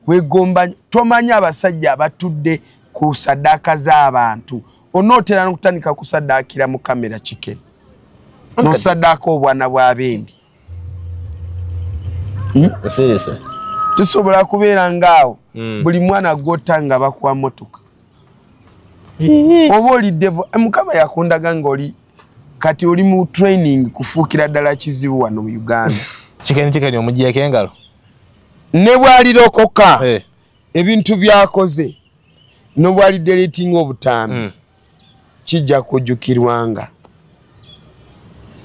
kwegomba tomanyi abasajja abatudde ku sadaaka z'abantu onootera nokutandika kusadaakira mu kamera kiken nosadaaka obwana bwabendi hmm? tusobola kubeera ngaawo hmm. buli mwana gwota nga bakuwa motoka oba olidevo eh, mukama yakundaga ngaoli kati oli mu training kufuukira ddala kizibu wano mu uganda kikeni kikeni omugiyeko engalo ne bwalirokoka eh. ebintu byakoze nobwali deletinga obutaambi mm. kijja kujukirwanga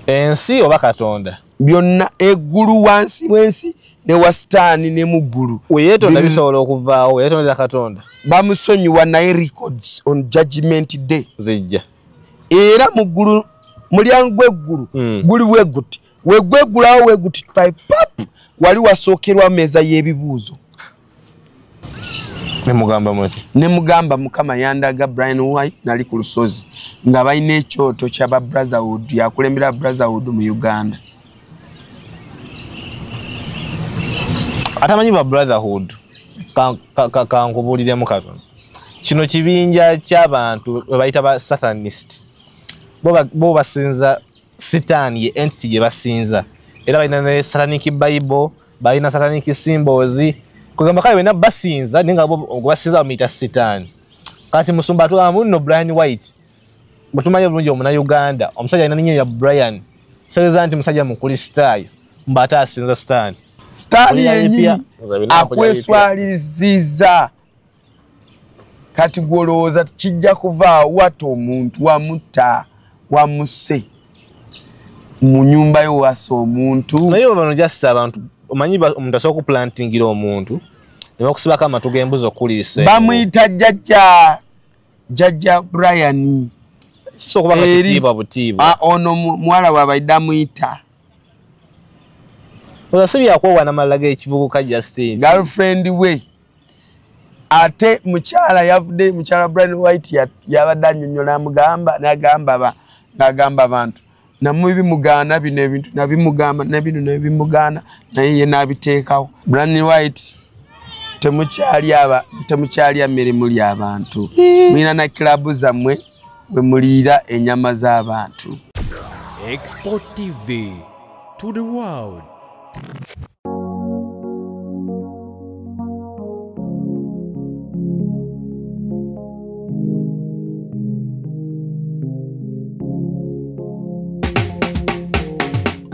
ensi oba katonda byonna eggulu wansi wensi ne wasitaani ne mu ggulu weyetonda bisobola okuvaawo weyetondera katonda bamusonyiwa naye records on judgment day zijja era mu ggulu mulyango gweggulu mm. guli bweguti wegwegulawo wegutitpaip wali wasookerwa meeza y'ebibuuzo nemugamba muti nemugamba mukama yandaga brian white nali ku lusozi nga balina ekyoto kyaba brotherhood yakulembera brotherhood mu uganda atamanyi ba brotherhood kankubuliremu ka, ka, ka, katono kino kibinja kyabantu webayita ba sathanist bo basinza sitaani ye entity gye basinza era balina ne satanic bible balina satanic symbols kugamba kale bena basinza naye nga gwebasinza bamuyita sitaani kati musumba atugamba munno brian white bwetumanyi obulungi omuna uganda omusajja alina ninyo ya brian kitegeza nti musajja mukristaayo mba ate asinza sitaani sitaani yenyini akweswaliriziza kati gwolowooza kijja kuva wata omuntu wamutta wamuse mu nyumba yo wasa omuntu naye bano just abantu omanyi omuntu asobola kuplantingira omuntu ne bakusibako amatu g'embuzi okuliisa bamuyita jjajja jjajja brian ah, ono muwala wabaidde amuyita oza si byakwowana malala g'ekivubuka justin girlfriend we ate mukyala yavude mukyala brian white yabadde anyonyola amugamba nagamba ngagamba abantu namubi mugaana bino ebintu nabimugamba nabino nabimugaana naye ye nabiteekawo brian white temukyalya mirimu lyabantu mulina na kilabu zammwe wemuliira enyama z'abantu export tv to the world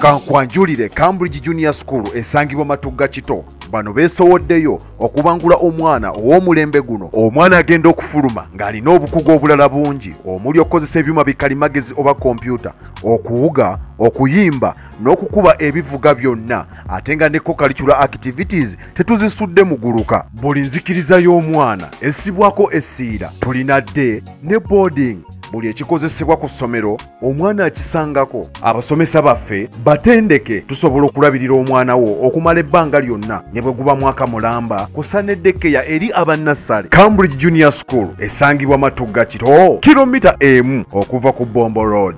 kankwanjulire cambridge junior school esangibwa matugga kito bano beesowoddeyo okubangula omwana ow'omulembe guno omwana agenda okufuluma ng'alina obukugu obulala bungi omuli okukozesa ebyuma bikalimagezi oba kompyuta okuwuga okuyimba n'okukuba ebivuga byonna ate nga ne kokalicula activities tetuzisudde muguluka buli nzikiriza y'omwana essibwako essiira tulina dde ne boarding buli ekikozesebwa ku ssomero omwana akisangako abasomesa baffe batendeke tusobola okulabirira omwana wo okumala ebbanga lyonna ne bwe guba mwaka mulamba kusaneddekeya eri abannassale cambridge junior school esangibwa matugga kito kilomita emu okuva ku bombo road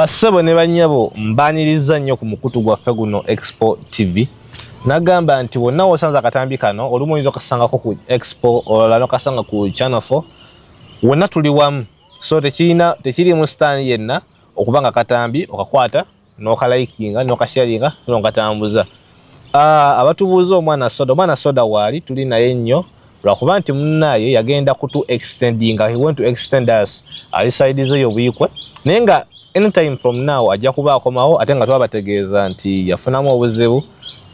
bassebo ne bannyabo mbaaniriza nnyo ku mukutu gwaffe guno expo tv nagamba nti wonna wosanze akatambi kano olumu oyinza okasangako ku expo olala nokasanga ku channel 4 wonna tuli wamu so tekirina tekirimu sitaani yenna okuba nga katambi okakwata nokalayikinga nokasharinga nokatambuza no Ah, abatubuuza omwana soda omwana soda waali tuli naye nnyo lwakuba nti munaye yagenda kutu extendinga he went to extend us ali side ze yobuikwe naye nga anytime from now ajja kuba akomawo ate nga twabategeeza nti yafunamu obuzibu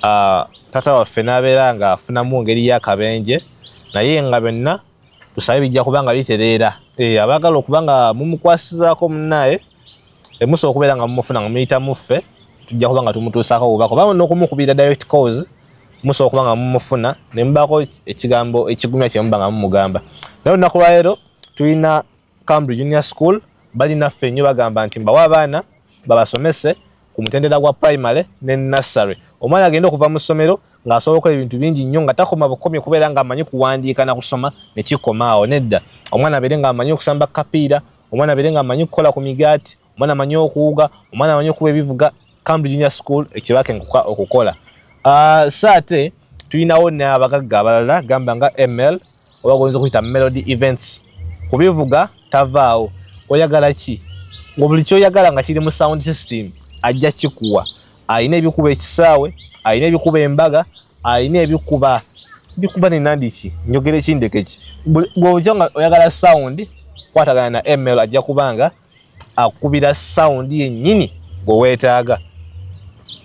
ah, tata waffe nabeera nga afunamu ngeri yakabenje naye nga byonna tusabe bijja kuba nga bitereera eh, abagala okuba nga mumukwasizaako munaye emusa okubeera nga mumufuna nga muyita muffe tujja kuba nga tumutuusako obubaka oba n'okumukubira direct cause musa okuba nga mumufuna ne mubaako ekigambo ekigumya kye muba nga mumugamba naye olunaku lwaleero tulina cambridge junior school balinaffe nnyo bagamba nti mbawa abaana babasomese ku mutendera gwa primary ne nursery omwana agenda okuva mu ssomero ng'asobola okukola ebintu bingi nnyo nga takoma bukomye kubeera ng'amanyi kuwandiika na kusoma ne kikomaawo nedda omwana abeere ng'amanyi okusamba kapiira omwana abeere nga amanyi okukola ku migaati omwana amanyi okuwuga omwana amanyi okuba ebivuga cambridge junior school ekibake okukola ah, so ate tulinawo n'abagagga abalala gamba nga ml oba goyinza okuyita melody events kubivuga tavaawo oyagala ki nga buli kyoyagala nga kiri mu sound system ajja kikuwa alina ebikuba ekisaawe alina ebikuba embaga alina ebikuba bikuba nenandiki njogera ekindekeki gwoja nga oyagala sound kwatagana na ml ajja kubanga akubira sound yennyini gweweetaaga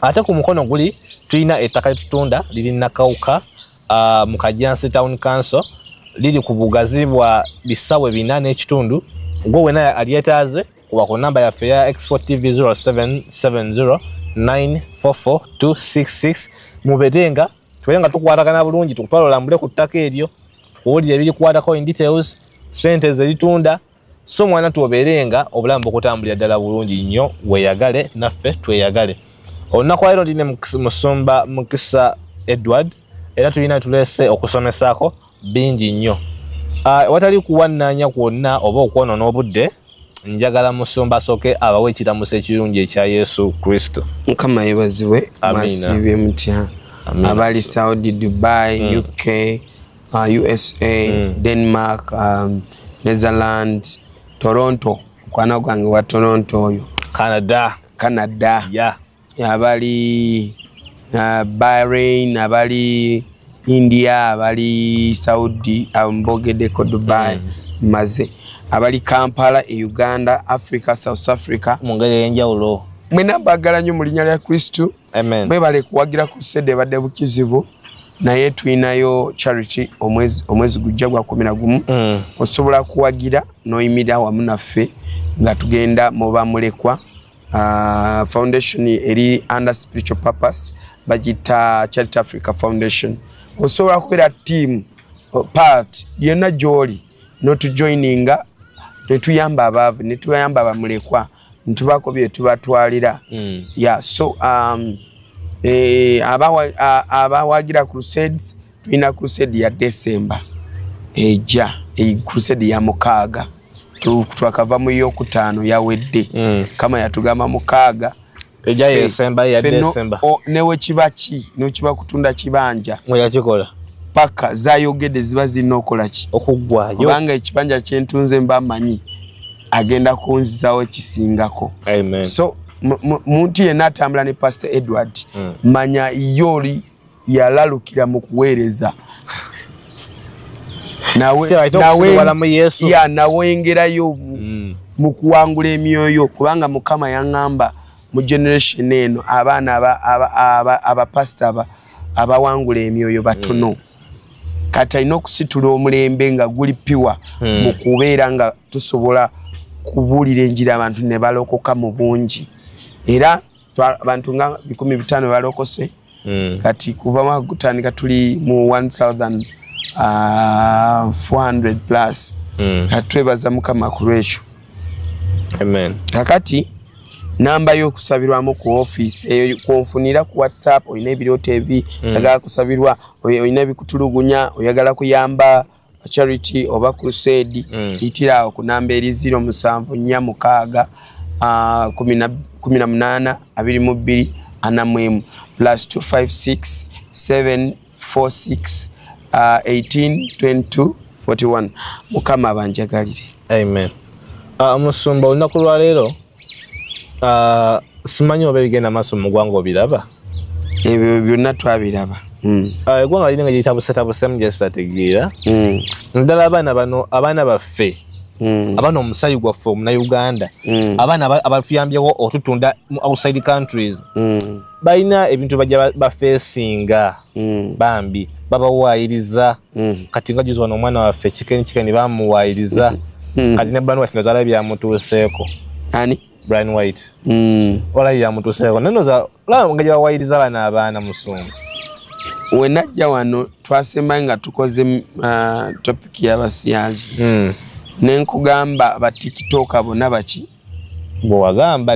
ate ku mukono guli tulina ettaka litutunda liri nakawuka uh, mu kajansi town council liri ku bugazi bwa bisawe bina n'ekitundu gwe wena alyetaaze kuba ku namba yaffe ya export tv 0770 944266 mubeere nga tubeere nga tukwatagana bulungi tukutwala olambule ku ttaka eryo tukuwulire ebirikwatako in details sente zeritunda so mwana tuobeere nga obulamu bukutambulira ddala bulungi nnyo weyagale naffe tweyagale olunaku lwalero ndi ne musumba mukisa edward era tulina tuleese okusomesaako bingi nnyo ah, watali kuwannaanya kwonna oba okwonoona obudde njagala musumba soke abawe ekiramuso ekirungi ekya yesu kristo mukama yebaziwe masiibye mutya abali saudi dubai mm. uk uh, usa mm. denmark um, netherland toronto mukwana gwange wa toronto oyo canada canada yeah. abali uh, bahrain abali india abali saudi mbogedeko dubai mm. maze abali kampala e uganda africa south africa mungeri eyenjawulo mwena bagala nyo mu linya lya kristu mwebale kuwagira ku sede ebadde bukizibu naye tulinayo charity omwezi gujja gwa kumi na gumu mm. osobola kuwagira noyimira wamu naffe nga tugenda mubamulekwa uh, foundation eri under spiritual purpose bagita charity africa foundation osobola kubeera team uh, part yonna gyoli notujoininga netuyamba abaavu netuyamba abamulekwa netubaako byetubatwalira mm. ya so um, eh, abawagira crusades tulina crusade ya december eja e crusade ya mukaaga twakava mu yokutaano yawedde mm. kama yatugamba mukaaga eja yesemba ya december newe kiba ki nokiba kutunda kibanja yakikola paka zayogede ziba zirina okola ki okuggwayo kubanga ekibanja kyentunze mba manyi agenda kunzizawo ekisingako so muntu yenna atambula ne pastor edward mm. manya yooli yalalukira mu kuweereza nawengerayo mm. mu kuwangula emyoyo kubanga mukama yaŋamba mu generation eno abaana abapasita abawangula emyoyo batono mm. kati alina okusitula omulembe nga guli piwa mm. mu kubeera nga tusobola kubuulira enjira abantu ne balokoka mu bungi era abantu nga bikumi bitaano balokose mm. kati kuva mwagutandika tuli mu 1400 uh, plus mm. kati twebaza mukama ku lwekyo kakati namba yokusabirwamu ku office eyo kwonfunira ku whatsapp olina ebirooto ebi mm. agala kusabirwa olina ebikutulugunya oyagala kuyamba charity oba crusade mm. itira awo ku namba eri ziro musanvu nnya mukaaga uh, kumi na munaana abiri mu bbiri ana mu emu plus 256 746 uh, 18 22 41 mukama abanjagalire amen uh, musumba olunaku lwaleero ah, simanyi oba ebigenda maaso mu ggwanga obiraba ebyo byonna twabiraba hmm. ah, eggwanga liri nga gyetabusetabusemu gyesitategeera hmm. naddala abaana bano abaana baffe hmm. abaana omusayi gwaffe omunauganda abaana abatuyambyewo otutunda mu outside countries balina ebintu bajja bafeesinga mm. bambi babawaayiriza mm. kati nga juzi wano omwana waffe kikeni kikeni bamuwaayiriza mm. mm. kati ne brian white nozala byamutuuseeko ani brian white mm. olayi yamutuuseeko nenoza olaba nga gyebawaayiriza bana abaana musungu wenajja wano twasemba nga tukoze uh, topic yabasiyazi mm. nenkugamba batikitoka bona baki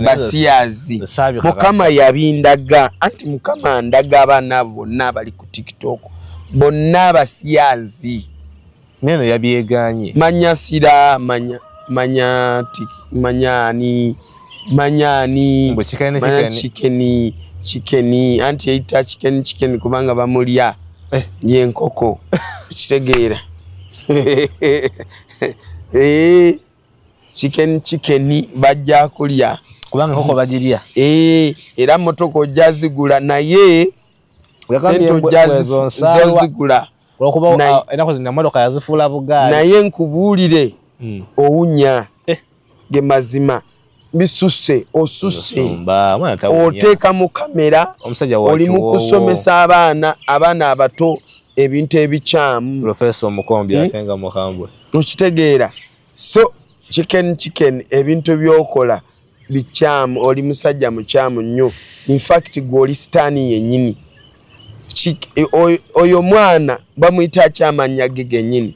basiyazi mukama yabindaga anti mukama andaga abaana abo bonna abali ku tiktok bonna abasiyazi neno yabyeganye manya sira manya manya tiki manya ani manya ani manya chikeni chikeni anti eyita chikeni chikeni kubanga bamulya eh. yenkoko kitegeera eh. chicken chicken bajja kulya kubanga koko bajirya eh era motoko ojazigula naye sente ojazigula olwokuba ah, enako zina motoka yazifuula bugaali naye nkubuulire hmm. owunya eh. ge mazima bisuse osuse oteka mu kamera oli mu kusomesa abaana abaana abato ebintu ebikyamu professor omukombi hmm? atenga muhambwe okitegeera so chicken chicken ebintu byokola bikyamu oli musajja mukyamu nnyo infact gwe oli sitaani yenyini oyo mwana bamuyita akyamanya ge genyini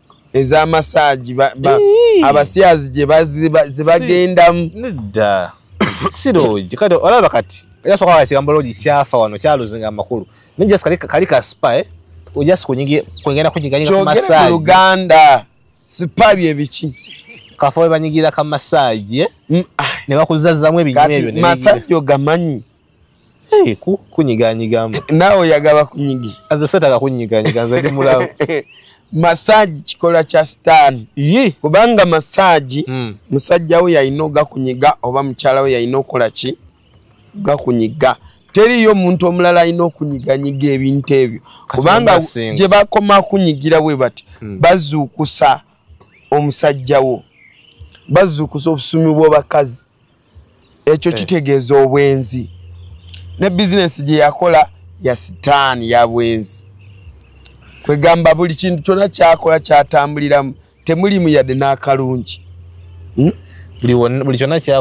eza massage ba, ba, abasyazi gye bagendamu nedda sirogi kati olaba kati yasoka wakigamba logi kyafa wano kyaluzinga amakulu naye just kali, kali ka spa eh? just kwegenda kunyiganyiga ku massage luganda spa bye biki kafa webanyigira ka massage eh? mm, ah. ne bakuzazzamu ebinyuma ebyo massage ogamanyi Hey, ku, kunyiganyiga mbu. Nawe oyagala kunyigi. Aze sataka kunyiganyiga nze ndi mulamu. Massage kikola kya stan. Yi. Kubanga massage mm. musajja we yalina ogakunyiga oba mukyala we yalina okola ki? Gakunyiga. Teriyo omuntu omulala alina okunyiganyiga ebintu ebyo. Kubanga gye bakoma kunyigira we bati mm. bazuukusa omusajja wo. Bazuukusa obusumi bw'abakazi. ekyo eh. kitegeeza obwenzi ne bizinesi gye yakola ya sitaani ya bwenzi kwegamba buli kintu kyona kyakola kyatambuliramu temulimu yadde n'akalungi hmm?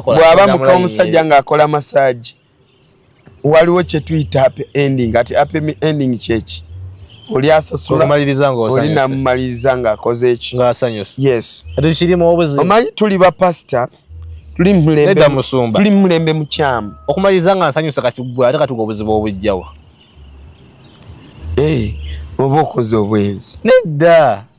bwaba muka omusajja ng'akola masaagi waliwo kyetuyita happy ending ati happy ending kyeki oli asasulaolinamumaliriza ngaakoze ekyomanyi tuli bapasita tuli mulembe mukyamu okumaliriza nga nsanyusa kati gwe ate katuga obuzibu obujjawa eh, oba okoze obwenzi nedda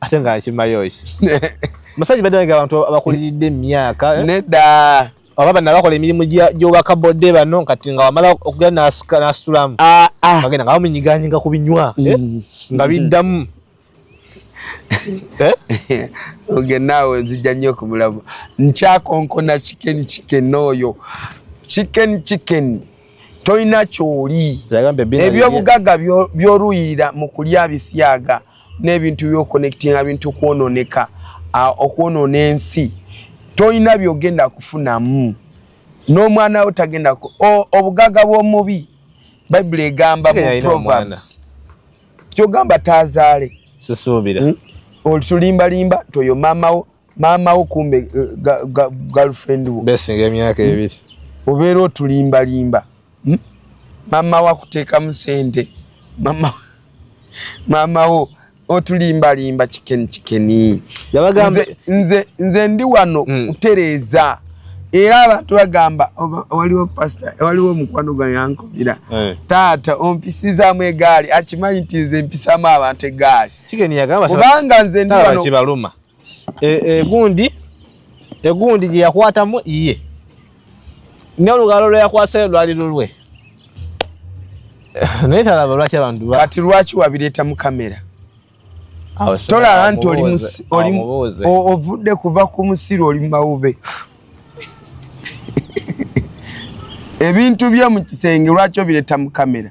ate nga nkimayoki musajja badde nga abantu abakuliridde emyaka eh? nedda oba bana bakola emirimu gyobaka bodde bano kati nga wamala okugenda nasitulamu ah, ah. bagenda nga bamunyiganyinga ku binywa eh? mm. nga biddamu eh? oge naawe nzijja nnyo okumulamu nkyakonkona chicken chicken oyo chicken chicken tolina kyoli ebyobugagga byoluyirira mu kulya bisyaga n'ebintu byokonectinga bintu kwononeka okwonona ensi tolina byogenda kufunamu n'omwana wo tagenda obugaga bw'omubi bayibuli egamba mu proverbs kyogamba tazaale sisuubira hmm? otulimbalimba nti oyo maama wo maama wo kumbe eh, girlfriend wo besinga emyaka hmm? ebiri obeera otulimbalimba hmm? maama wo akuteekamu sente maama wo otulimbalimba kikeni kikeni nze, nze ndi wano mm. kutereeza era abantu bagamba waliwo pasta waliwo omukwano gwa yankubira hey. Eh. taata ompisizaamu egaali akimanyi nti nze mpisaamu abantu egaali kubanga nze ndi wano egundi e, egundi gye yakwatamu iye ne olugalo lwe yakwasa lwali lulwe naye talaba lwaki abantu kati lwaki wabireeta mu kamera tolaba nti ovudde kuva ku musiru oli mumawube ebintu bye mu kisenge lwaki obireta mu kamera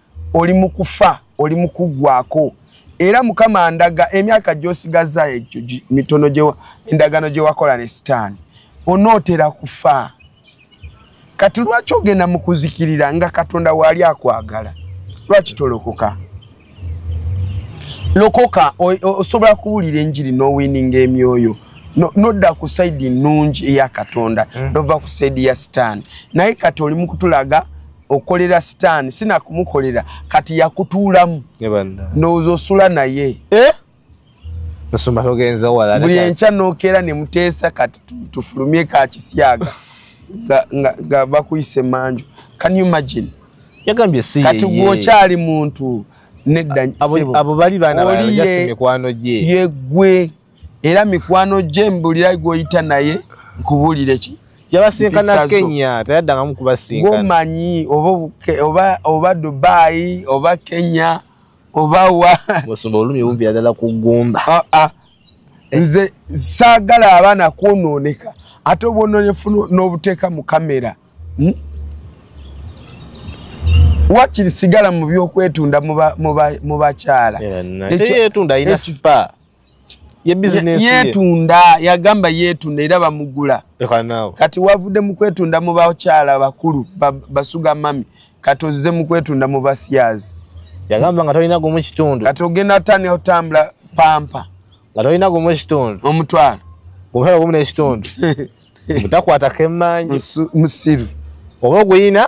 oli mu kufa oli mu kuggwako era mukama ndaga emyaka gy'osigaza egyo mitono endagaano gye wakola ne sitaani onootera kufa kati lwaki ogenda mu kuzikirira nga katonda waali akwagala lwaki tolokoka lokoka osobola kuwulira enjiri n'owininga emyoyo nodda ku saidi nnungi eya katonda mm. nova ku saidi ya sitaani naye kati oli mu kutulaga okolera sitaani sinakumukolera kati yakutuulamu ndowooza osula naye eh? buli enkya nokeera ne muteesa kati tufulumye ka kisyaga nga bakuyisa emanju can you imagine yagambye si kati gwokyali muntu nedda abo bali baana baana just mikwano gye yegwe era mikwano gye mbulira gwoyita naye nkubulire ki yabasinkana kenya tayaddangamu kubasinkana gomanyi oba oba dubai oba kenya oba wa musumba olumi wumvira ddala ku gumba ah, ah. nze saagala abaana kwonooneka ate obwononefu n'obuteeka mu kamera hmm? wakiri sigala mu byokwetunda mu bakyala yetunda yagamba yetunda era bamugula kati wavude mukwetunda mu bakyala bakulu basuga mami kati ozize mukwetunda mu basiyazi yagamba nga tolina gumu kitundu kati ogenda tani otambula pampa nga tolina gumu kitundu omutwalo omusala gumu nekitundu mutakwata kemanyi musiru oba oguyina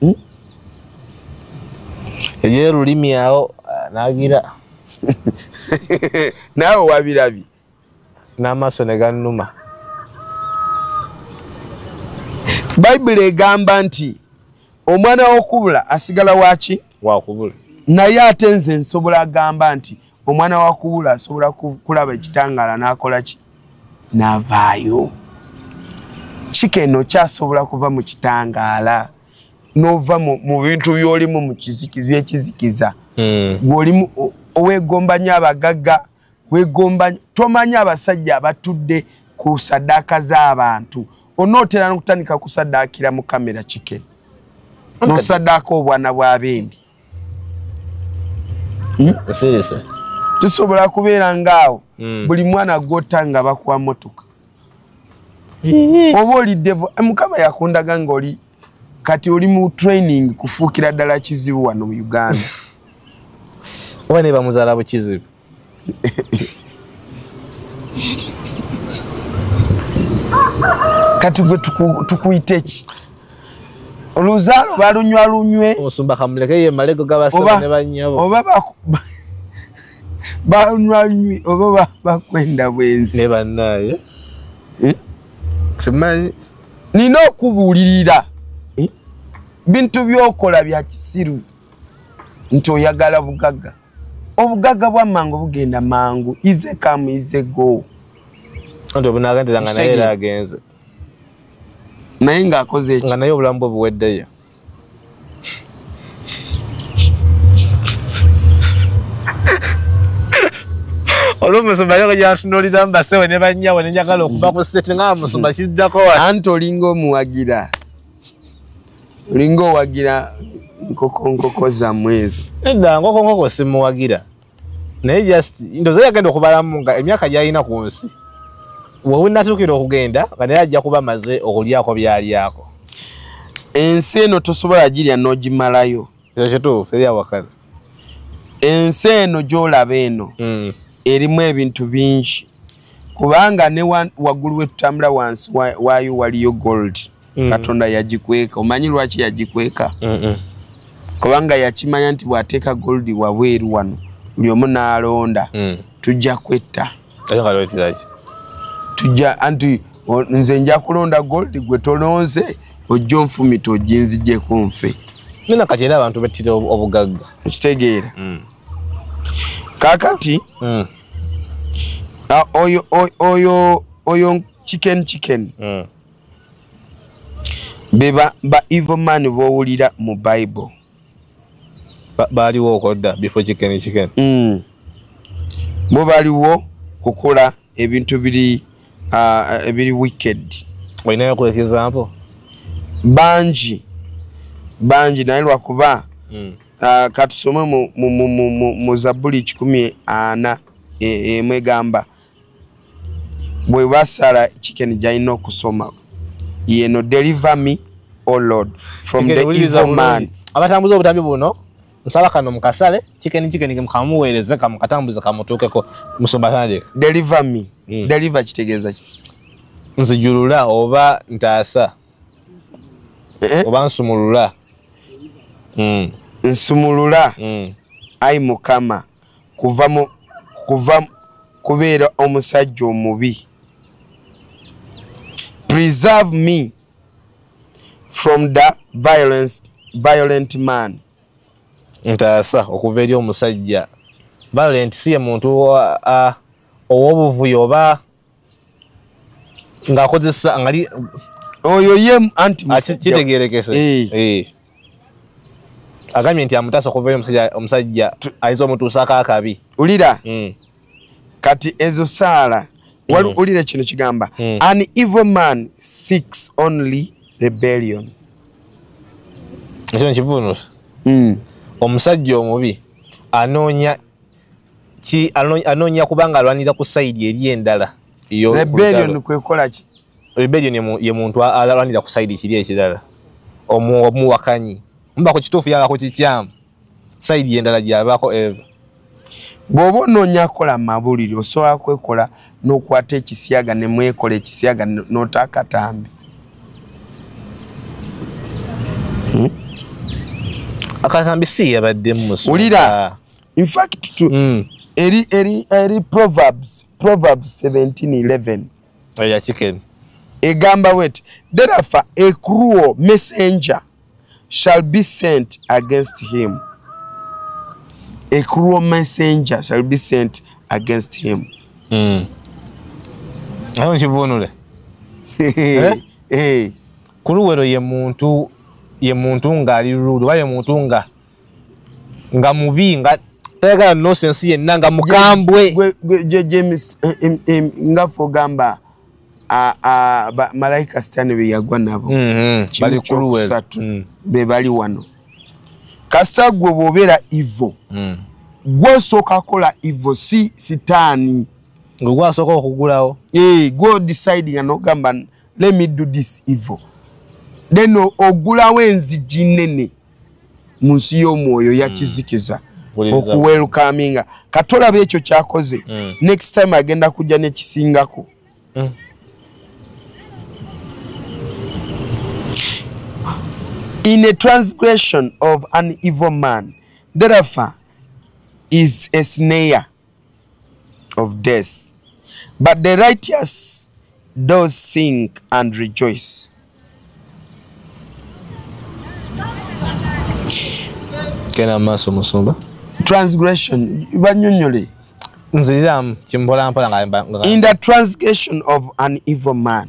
hmm? eyo olulimi awo ah, nagira naawe wabirabi n'amaaso ne gannuma bayibuli egamba nti omwana wokubula asigala waki wakubula naye ate nze nsobola agamba nti omwana wa kubula asobola kulaba ekitangaala n'akola ki n'avaayo kika eno kyasobola kuva mu kitangaala n'ova mu bintu by'olimu mu kizikiza ekizikiza hmm. gw'olimu owegomba nyo abagagga wegomba tomanya abasajja abatudde ku sadaaka z'abantu onootera n'okutandika kusaddaakira mu kamera kikeni nosadaaka obwana bwa bendi oseresa hmm? tusobola kubeera ngaawo hmm. buli mwana gwota nga bakuwa motoka hmm. oba oli devo eh, mukama yakundaga ngaoli kati oli mu training kufuukira ddala kizibu wano mu uganda oba nebamuzaala bukizibu kati gwe tukuyite ki oluzaalo balunywa lunywe oba balunywa lunywe oba bakwenda bwenzi eh? nina okubuulirira eh? bintu byokola bya kisiru nti oyagala bugagga obugagga bwa mangu bugenda mangu ize kamu ize go nti obunagendera nga naye era agenze naye ng'akoze eki nga naye obulamu bwe buweddeyo olumusumba yoko gyatunulira mbasewe ne bannyawe ne njagala okuva ku sete nga musumba kiddako wa anti olinga omuwagira olinga owagira nkokonkoko zammwe ezo edda nkokonkoko simuwagira naye just ndoza yagenda okubalamu nga emyaka gyalina ku nsi wewinatuukira okugenda nga naye ajja kuba maze okulyako byalyako ensi eno tosobola girya n'ogimalayo ekyo kituufu eri awakana ensi eno gyolaba eno hmm. erimu ebintu bingi kubanga ne waggulu wetutambula wansi waayo waliyo gold mm. katonda yagikweka omanyi lwaki yagikweka mm -mm. kubanga yakimanya nti bwateeka goldi wabweru wano buli omu nalonda mm. tujja kwetta tujja anti nze nja kulonda goldi gwe tolonze ojja onfumita ojinzijeko nfe nina kati era abantu bettira obugagga okitegeera mm. kakati mm. oyo oyo oyo chicken chicken mm. be ba evil man bowulira mu bible baaliwo okodda bifo kikeni kikeni mm. bo baliwo kukola ebintu biri uh, ebiri wicked olinayo ku example bangi bangi naye lwakuba mm. uh, katusome mu, mu, mu, mu, mu, mu zabuli kikumi ana e, emwegamba e, bwe basala chicken jaino kusoma yeno deliver me oh lord from the evil man abatambuza obutambi buno nsaba kano mukasale chicken chicken kamuweereze kamukatambuze kamutuukeko musumba tandika deliver me mm. deliver kitegeeza ki nzijulula oba ntaasa eh? eh? oba nsumulula mm. nsumulula mm. ai mukama kuva mu kuva kubeera omusajja omubi preserve me from the violence violent man ntaasa okuva eri omusajja violent siye muntu ow'obuvuyo oba ng'akozesa ngali oyo ye anti kitegerekese eh. eh. agambye nti amutaasa okuva eri omusajja ayinza omutuusaako akabi ulira hmm. kati ezo saala hmm. ulira kino kigamba hmm. an evil man six only rebellion ekyo nkivunula omusajja omubi anoonya ki anoonya kubanga alwanira ku sayidi eri endala rebellion kwekola ki rebellion ye muntu alwanira ku sayidi kiri ekirala omuwakanyi muba ku kituufu yaba ku kikyamu sayidi endala gyabako eva bw'oba onoonya kola mabulire osobola kwekola nokwata ekisiyaga nemwekola ekisiyaga nota akatambi hmm? akatambi si yabadde muwulira infact hmm. eri eri eri proverbs proverbs 1711 eya chicken egamba wet derafa a cruel messenger shall be sent against him a cruel messenger shall be sent against him hmm. ayo nkivunule eh? eh. kuluwero ye muntu ye muntu nga ali lulu oba ye muntu nga nga mubi nga tayagala nosensi yenna nga mukambwe james eh, eh, eh, nga fogamba malaika sitani beyagwa nabo mm-hmm. kimukusatu mm. bebali wano kasita gwe bwobeera ivo mm. gwosooka kola ivo si sitaani nga gwasooka okugulawo gwo decide nga nogamba let me do this ivo then ogulawo enzigi nene mu nsi y'omwoyo yakizikiza hmm. okuwelkaminga kati olaba ekyo kyakoze hmm. next time agenda kujja nekisingako hmm. in a transgression of an evil man therefore is a snare of death but the righteous does sing and rejoice kena maso musumba transgression banyonyole nziramu kimbola mpola nga in the transgression of an evil man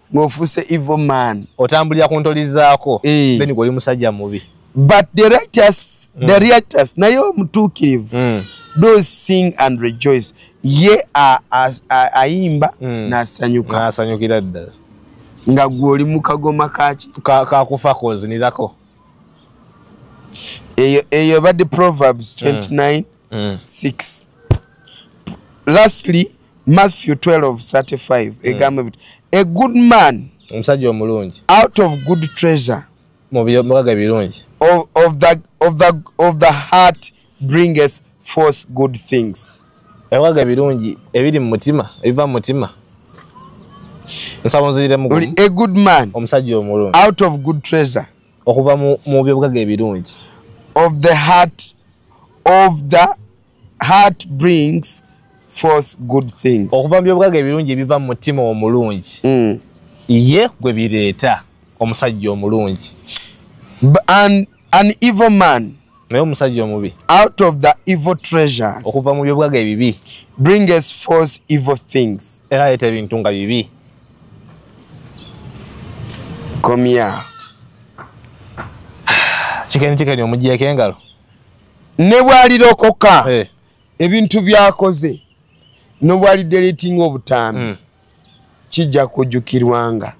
ng'ofuuse evil man otambulira ku ntolizaako eh. then gwe oli musajja mubi but the righteous mm. the righteous naye omutuukirivu mm. those sing and rejoice ye ayimba mm. nasanyuka nasanyukira ddala nga gwe oli mu kagoma kaki kakufa kozinirako eyo eyo badde proverbs 29 mm. 6 mm. lastly matthew 1235 hmm. egamba mm. a good man omusajja omulungi out of good treasure mubibaga birungi of, of, the, of, the, of the heart bringeth forth good things ewaga birungi ebiri mu mutima ebiva mu mutima a good man omusajja omulungi out of good treasure okuva mu byobugaga ebirungi of the heart of the heart brings forth good things okuva mu byobugaga ebirungi ebiva mu mutima omulungi mm. ye gwe bireeta omusajja omulungi an, an evil man naye omusajja omubi out of the evil treasures okuva mu byobugaga ebibi bring us forth evil things era aleeta ebintu nga bibi komya kikeni kikeni omugyeeko engalo ne bwalirokoka eh. ebintu byakoze nobwali deletinga obutaambi mm. kijja kujukirwanga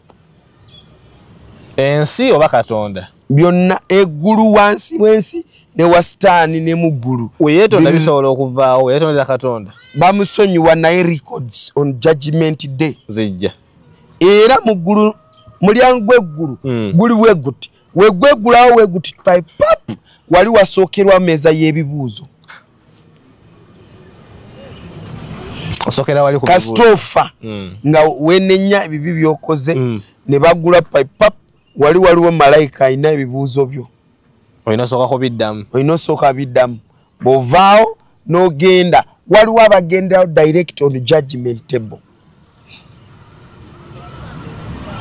ensi oba katonda byonna eggulu wansi wensi ne wasitaani ne mu ggulu weyetonda bisobola okuvaawo weyetondera katonda bamusonyiwa naye records on judgment day zijja era mu ggulu mulyango gweggulu mm. guli bweguti wegwegulawo wegutipai pap wali wasookerwa meeza y'ebibuuzo kasitofa mm. nga wenenya ebibi byokoze mm. ne bagula pipap wali waliwo malayika alina ebibuuzo byo olina osooka biddamu bwovaawo n'ogenda waliwo abagenderawo direct on judgment table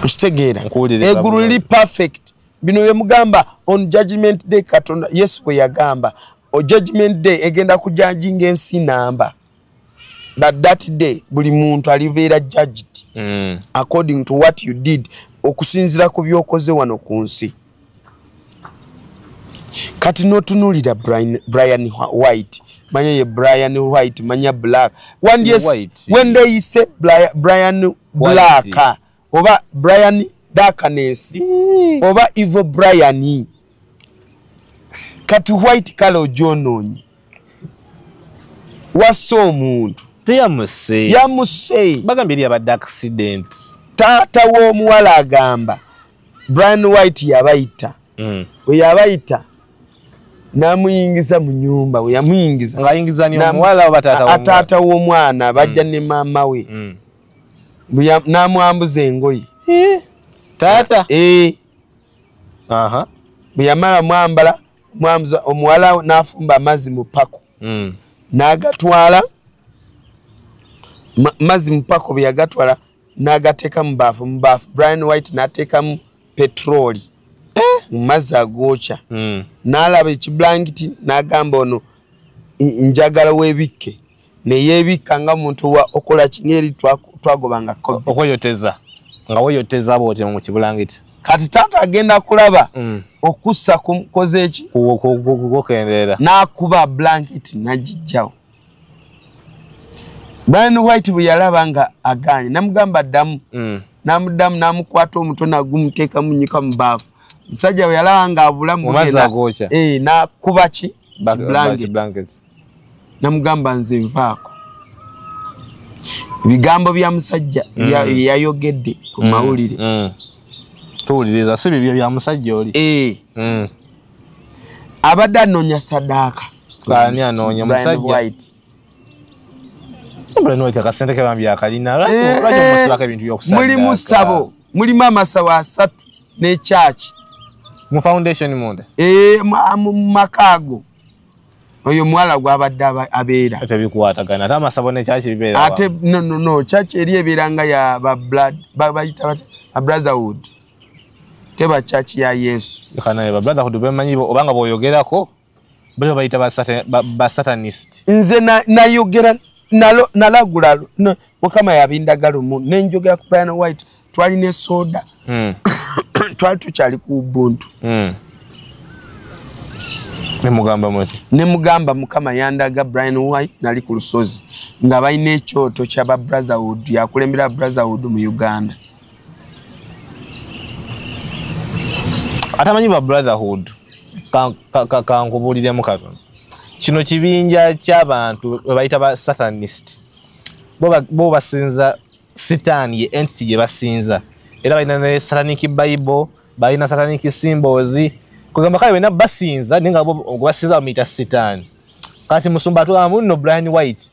okitegeera egulu liri perfect bino byemugamba on judgment day katonda yesu bwe yagamba judgment day egenda kujajinga ensi namba but that day buli muntu alibeera judged mm. according to what you did okusinzira ku byokoze wano ku nsi kati notunulira brian, brian white manya ye brian white manya black wandyes, when they say brian, brian black white. oba brian darkness mm. oba evo brian kati white kale ojonoonyi wasa omuntu teyamuse yamuse bagambye eri abadde accident taata w'omuwala agamba brian white yabayita mm. weyabayita namuyingiza mu nyumba weyamuyingiza taata w'omwana bajja mm. ne maama we mm. namwambuza engoye eh, taata eh. bwe yamala mwambala mwamuza omuwala n'afumba amazzi mu pako hmm. n'agatwala mazzi mu pako bwe yagatwala n'agateeka mu baafu mu baafu brian white n'ateekamu petroli eh? mu mazzi agookya hmm. n'alaba ekibulangiti n'agamba ono njagala webikke neyebikka nga muntu wa okola kini eri twagobanga okweyoteza nga weyoteza bwoti mu kibulangiti kati taata agenda kulaba mm. okussa kukoze eki kukendeera nakuba blankit nagijjawo brian white bwe yalaba nga aganye namugamba ddamu mm. namuddamu namukwata omuto nagumuteeka munyika mu baafu musajja bwe yalaba nga abulamu eh, nakuba ki blanket namugamba nze nvaako ebigambo bya musajja mm. yayogedde ku mm. mawulire mm. tuwuliriza si bibyo bya musajja oli eh. mm. abadde anoonya sadaaka ani anoonya musajja mulimu sabo mulimu amasabo asatu nekyaki mu foundation munda eh, mu makaago oyo mwala gwabadde abeera tebikwatagana ate amasabo nekyaki bibeera ate nonono kyaki eri ebeera nga ya babayita brotherhood teba kyaki ya yesu brotherhood bemanyi obanga bwoyogerako bali babayita basatanist nze nayogera nalagula mukama yabindaga lumu nenjogera ku piano white twali ne soda mm. twali tukyali ku ubuntu mm. nemugamba muti nemugamba mukama yandaga brian white nali ku lusozi nga balina ekyoto kyaba brotherhood yakulembera brotherhood mu uganda atamanyi ba brotherhood kankubuliremu katono kino kibinja kyabantu bayita ba sathanist bo basinza sitaani ye entity gye basinza era balina ne satanic bible balina satanic symbols kugamba kale bena basinza naye nga gwebasinza bamuyita sitaani kati musumba atugamba munno brian white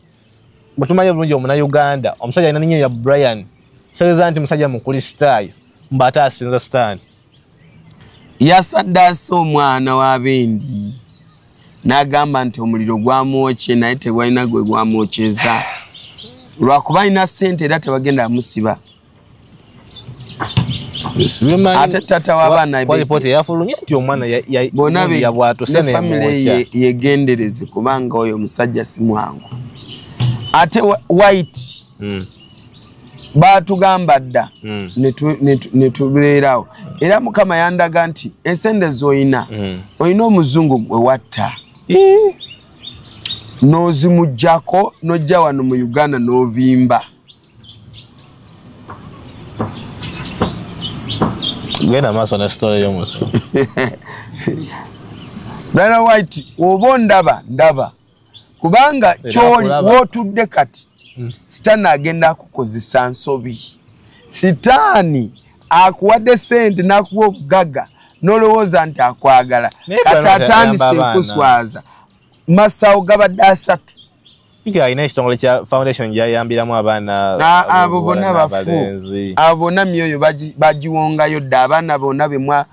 bwetumanyi bulungi omuna uganda omusajja alina ninyo ya brian kitegeza nti musajja mukristaayo mba ate asinza sitaani yasaddaasa omwana wa bendi n'agamba nti omuliro gwamwokye naye tegwalina gwe gwamwokyeza lwakuba alina ssente era tebagenda amusiba ate tata wabanabonabeamire yegendereze kubanga oyo omusajja si mwangu ate white mm. baatugamba dda mm. netubeerawo era mukama yandaga nti ensende zoyina mm. olina omuzungu gwe watta eh. n'ozimugjako n'ojja wano mu uganda n'ovimba genda maaso ne sitole y'omusu brother white oba ondaba ndaba kubanga kyoli wotudde kati hmm. sitaani agenda akukozesa nsobi sitaani akuwadde sente nakuwa obugaga nolowooza nti akwagala kati atandise okuswaza masawo gabadde asatu alina ekitongole kya foundation gyayambiramu abaana abo bona bafu abo bona myoyo bagiwongayo dda abaana bona bemwa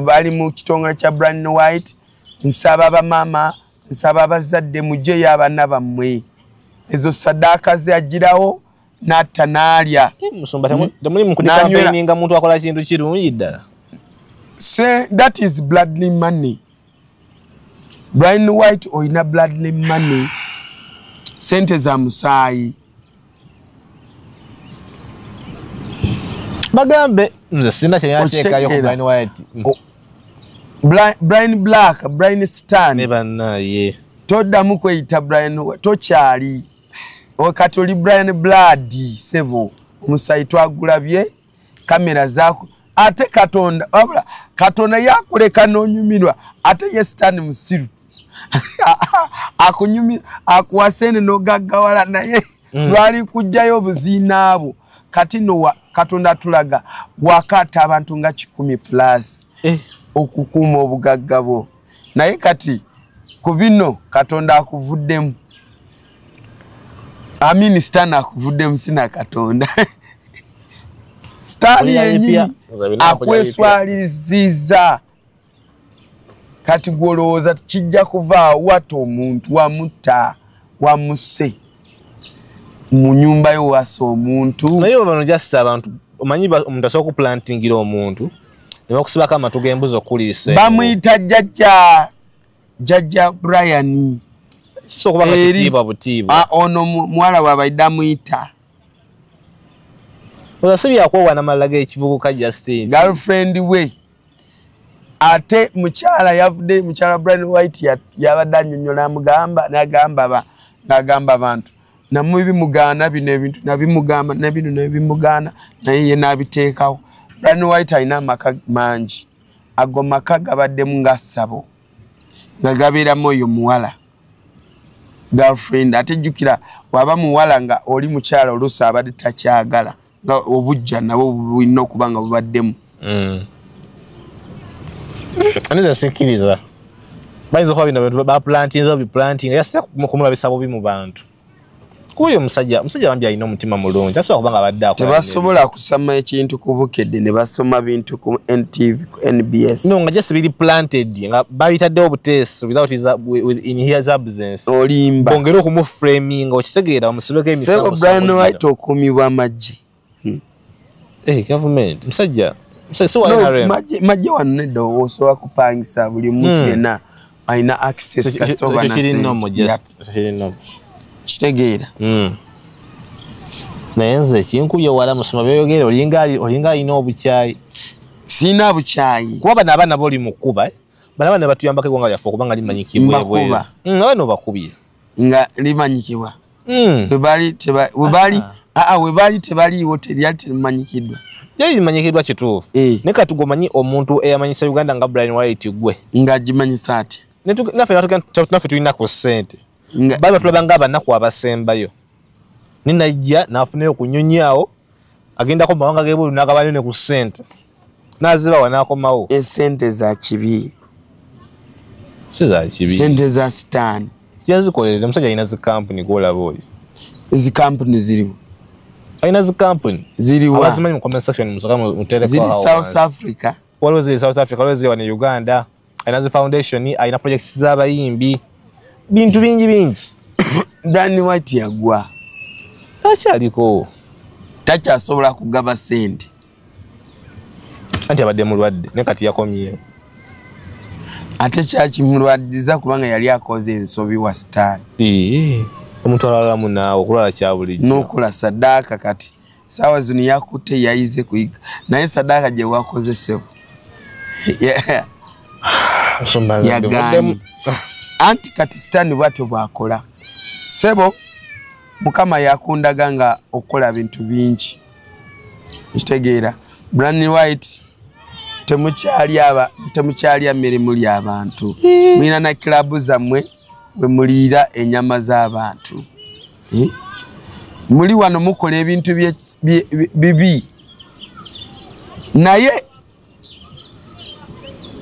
bali mu kitongole kya brand white nsaba bamama nsaba abazadde mujjeyo abaana bammwe ezo sadaaka zeagirawo natta naalya temulimukudikampeninga muntu akola kintu kirungi ddala se that is bloodly money brine white olina bloodly money sente za musaayi bagambe nze sina kyeyateekayo ku brian white brian black brian stan ne bannaye toddamu kweyita brian tokyali kati oli brian blood sebo omusayi twagulabye kamera zaku ate katonda wabula katonda yakuleka nonyumirwa ate ye sitaani musiru akunyumi akuwasene nogaggawala naye mm. lwali kujjayo obuziinaabwo kati nowa katonda atulaga wakata abantu nga kikumi plus eh. okukuuma obugagga bwo naye kati ku bino katonda akuvuddemu amini sitaani akuvuddemu sina katonda sitaani yenyini akweswaliziza kati gwolowooza kijja kuva wata omuntu wamutta wamuse mu nyumba yo wasa omuntu naye obano jasi abantu omanyi omuntu asobola kuplantingira omuntu ne bakusibako amatu g'embuzi okukuliisa bamuyita jjajja jjajja brian kisobola okuba nga kitiibwa butiibwa ah, ono muwala wabaidde amuyita oza si byakwowana malala g'ekivubuka justine girlfriend we ate mukyala yavudde mukyala brian white yabadde anyonyola amugamba nagamba nagamba abantu namwe bimugaana bino ebintu nabimugamba nabino nebimugaana naye ye nabiteekawo brian white alina amaka mangi ago maka gabaddemu nga ssabo nga gabeeramu oyo muwala girlfriend ate jjukira waba muwala nga oli mukyala oluusi abadde takyagala nga obujja nabo bulina okuba nga bubaddemu mm. aniza sikkiriza bayinza okuba bino bantu baplantinze obiplantinga yasira kumulabisa bubi mu bantu kuba oyo omusajja omusajja bambi alina omutima mulungi asobola kuba nga abadde tebasobola kusama ekintu ku bukedde ne basoma bintu ku ntv NBS. No, nga just really planted. Nga babita do butesi without his with in his absence. Olimba. Bongero kumu framing o chitegera omusibeke emisango. Sebo Brian White okumi wa maji. Hmm. Eh, hey, government. Msajja. Msajja so no, NRM. Maji maji wanne do oso akupangisa buli mtu hmm. yena. alina access kasita oba na sente kitegeera hmm. naye nze kinkubye wala musoma byoyogera olinga olinga alina obukyayi sirina bukyayi kuba bano abaana boli mukuba eh? bano abaana batuyambako egwanga lyaffe okubanga limanyi kimwebwera hmm, abaana obakubye nga limanyikibwa hmm. webaali ah. tebaliiwo teryali terimanyikiddwa yali limanyikidwa kituufu eh. ne kati gomanyi omuntu eyamanyisa uganda nga brian white gwe nga gimanyisa ati naffe tulina ku sente bali batulaba nga abanaku abasembayo ne najja n'afunayo ku nnyonyi awo agendako mu mawanga g'ebweru n'agabanyo ne ku ssente n'azibawa n'akomawo esente za kibi si za kibi sente za sitaani kyezikolera omusajja alina zi kampuni gwolaba oyo ezi kampuni ziriwo alina zi kampuni ziriwazimanyi mu comment section musoka muterekoziri south africa waliwo ziri south africa waliwo ziri wa ne uganda alina zi foundation alina projects z'abayimbi bintu bingi bingi dan white yagwa takyaliko takyasobola kugaba sente anti abadde mulwadde ne kati yakomyewo ate kyakimulwadiza kubanga yali akoze ensobi wa sitaani omuntu alalamu naawe okulwala kyabulijjo n'okola sadaaka kati saawa zino yakutte yayize kuyiga naye sadaaka gye wakoze ssebo yagambye anti kati sitaani bwatyo bwakola ssebo mukama yakundaga nga okukola bintu bingi ekitegeera brani white temukyalya mirimu lyabantu mulina na kilabu zammwe wemuliira enyama z'abantu eh? muli wano mukola ebintu bibi naye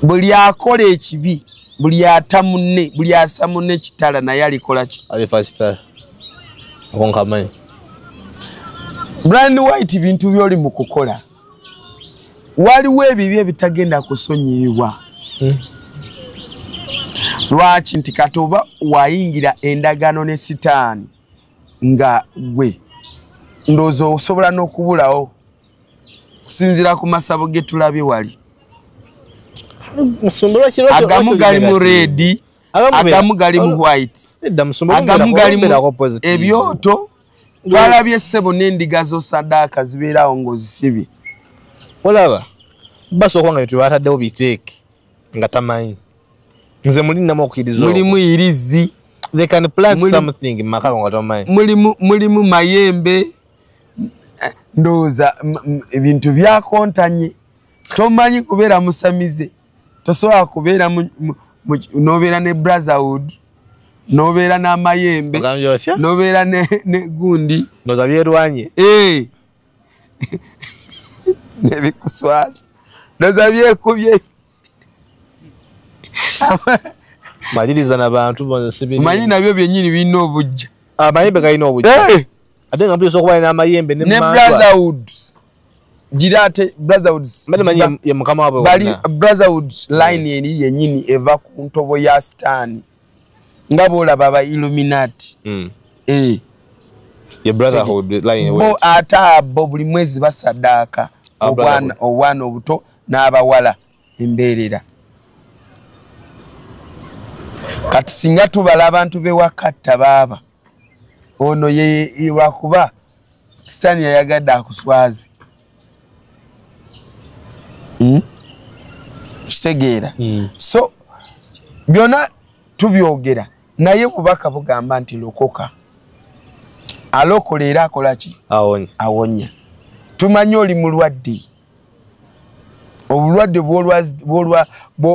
buli akola ekibi buli ata munne buli asa munne kitala naye alikola ki brian white bintu byoli mu kukola waliwo ebibi ebitagenda kusonyiyibwa hmm. lwaki nti kati oba wayingira endagaano ne sitaani nga gwe ndowooza osobola n'okubulawo okusinziira ku masabo ge tulabye wali agamu gali mu reedi agamu gali mu white agamu gali mu ebyoto twalabye ssebo n'endiga z'osadaaka zibeeraawo ng'ozisibye olaba basooka nga byetu bataddewo biteeke nga tamanyi nze muli nnamu okukiriza mulimu irizi they can plant Muli, something makako nga tamanyi mulimu mulimu mayembe eh, ndowooza ebintu byakontanye tomanyi kubeera musamize tosobola kubeera nobeera ne brotherhood nobeera n'amayembe nobeera ne gundi noza byerwanye eh. nebikuswaza noza byekubye maliriza nabantu manyi nabyo byenyini birina obujja amayembe ah, galina obujja eh. ate nga mpisa okuba namayembe ne brotherhood gira ate brotherhoods bali brotherhoods mm. line eri yenyini eva ku ntobo ya sitaani nga boolaba ba illuminati mm. eh. bo ate abo buli mwezi basadaaka ah, obwana obuto n'abawala embeerera kati singa tubala abantu bewakatta baaba ono lwakuba sitaani yayagadde akuswazi hmm? kitegeera hmm. so byona tubyogera naye bubaka bugamba nti lokoka alokola era akolaki awonya tumanyi oli mulwadde obulwadde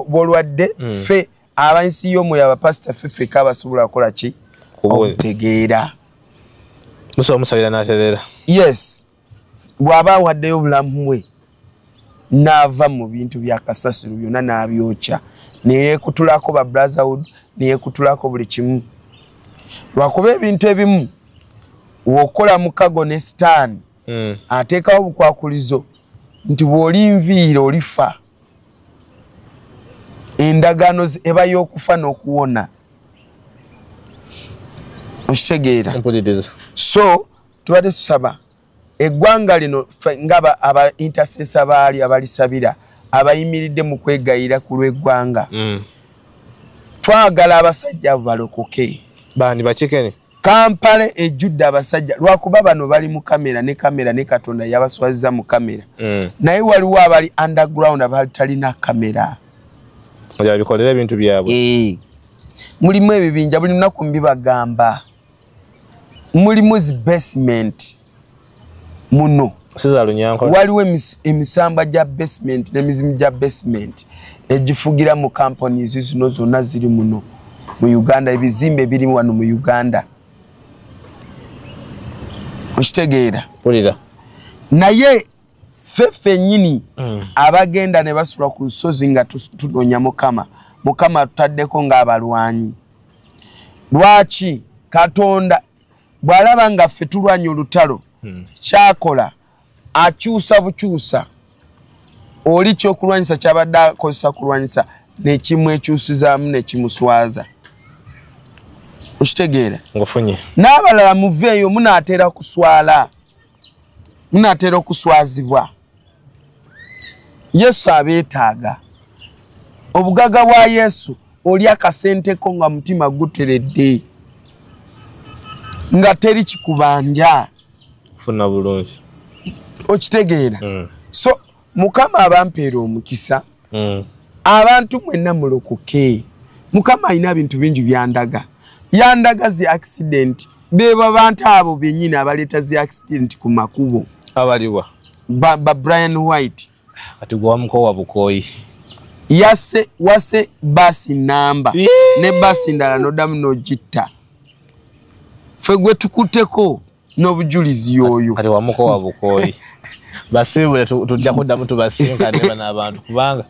bwolwadde hmm. fe abansi yo mwe abapasita fife ka basobola kola ki okutegeera musa omusabira naterera yes bwaba awaddeyo obulamu bwe naava mu bintu bya kasasiro byonna nabyokya neyekutulako ba brotherhood neyekutulako buli kimu lwakuba ebintu ebimu wokola mukago ne sitaani hmm. ateekawo obukwakulizo nti bw'oli nviire olifa endagaano eba y'okufa n'okuwona okitegeera so tubadde tusaba eggwanga lino nga aba intercesa baali abalisabira abayimiridde mu kwegayira ku lw'eggwanga mm. twagala abasajja abo balokoke bani bakikene kampala ejjudde abasajja lwakuba bano bali mu kamera ne kamera ne katonda yabaswaziza mu kamera mm. naye waliwo abali underground abatalina kamera bikolera ebintu byabwe eh. mulimu ebibinja buli lunaku mbibagamba mulimu zi basement muno waliwo emisamba gya basement nemizimu gya basement egifugira mu companies zino zonna ziri muno mu uganda ebizimbe biri wano mu uganda okitegeera naye ffe ffenyini mm. abagenda ne basula ku lusozi nga tunoonya mukama mukama tutaddeko ng'abalwanyi lwaki katonda bw'alaba nga ffe tulwanya olutalo hmm. kyakola akyusa bukyusa oli kyokulwanyisa kyabadde akozesa kulwanyisa nekimwekyusizaamu nekimuswaza okitegeera ngufunye n'abalala muveeyo munaatera kuswala munaatera okuswazibwa yesu abeetaaga obugaga bwa yesu oli akasenteko nga mutima guteredde nga teri kikubanja funa bulungi okitegeera mm. so mukama abampeera omukisa mm. abantu mwenna mulokoke mukama alina ebintu bingi byandaga yandaga zi accident beba bantu abo benyini abaleeta zi accident ku makubo abaliwa ba, ba brian white ati gwamukowa bukoyi yase wase basi namba ne basi ndala nodamu nogitta fe gwe tukuteko n'obujulizi yoyo kati wamukowa bukooyi basiibule tujja kuddamu tubasinkane bano abantu kubanga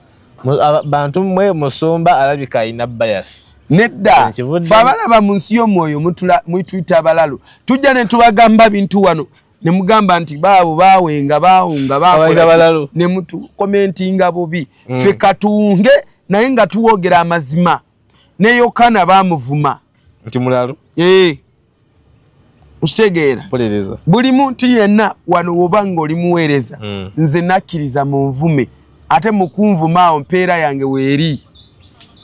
bantu mwe musumba alabika alina bayasi nedda fe abalaba mu nsi y'omwoyo mutuyita abalalu tujja ne tubagamba bintu wano ne mugamba nti baabo baawenga baawunga baakolalu ne mutukomentinga bubi mm. fe katunge naye nga tuwoogera amazima ne yokaana baamuvuma nti mulalu ee eh. okitegeera buli muntu yenna wano woba nga oli muweereza hmm. nze nakkiriza mu nvume ate mukunvuma awo mpeera yange weeri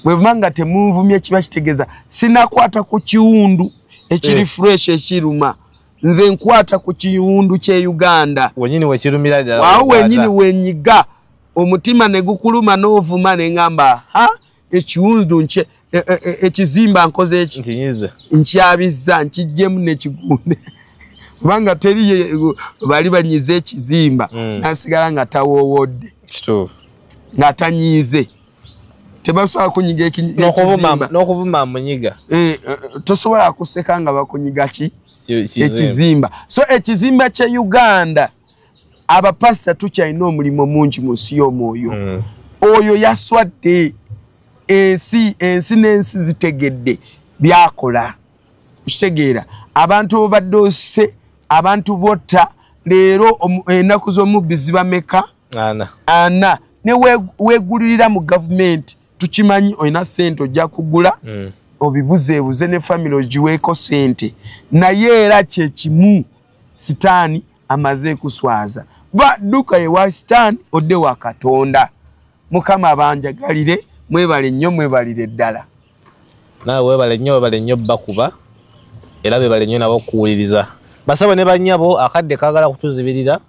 bweba nga temunvumye kiba kitegeeza sinakwata ku kiwundu ekiri eh. fresh ekiruma nze nkwata ku kiwundu kye uganda awo wenyini wenyiga omutima negukuluma novuma nengamba ha ekiwundu nkye e, e, e, ekizimba nkoze eki nkyabizza nkijjemu nekigunde kubanga teri bali banyize ekizimba hmm. nasigala nga tawowodde nga tanyiize tebasobola kunyiga ekinokuvuma munyiga eh, eh, tosobola kuseka nga bakunyiga ki ekizimba so ekizimba kye uganda abapasita tukyalina omulimu mungi mu nsi y'omwoyo mm. oyo yaswadde ensi ensi n'ensi zitegedde byakola okitegeera abantu obadde ose abantu botta leero ennaku z'omubbi zibameka ana ne wegulirira mu gavumenti tukimanyi olina sente ojja kugula mm. obibuzeebuze ne famiry ogiweeko sente naye era kyekimu sitaani amaze kuswaza va duka ewa sitaani odde wa katonda mukama abanjagalire mwebale nnyo mwebalire ddala naawe webale nnyo webale nnyo bakuba era bebale nnyo nabo okuwuliriza basabo ne banyabo akadde kagala kutuzibirira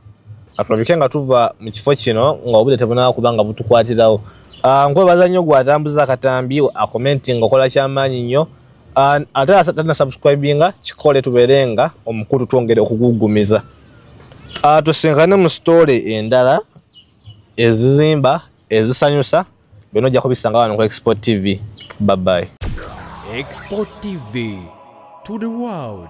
atulabike nga tuva mu kifo kino nga obudde tebunaba kuba nga butukwatirawo ah, nkwebaza nnyo gweatambuza akatambi akomenti nga okola kyamaanyi nnyo ate atatana subscribinga kikole tuberenga omukutu twongere okugugumiza ah, tusinkane mu story endala ezizimba ezisanyusa byona ojja kubisanga wano ku export tv baby export tv to the world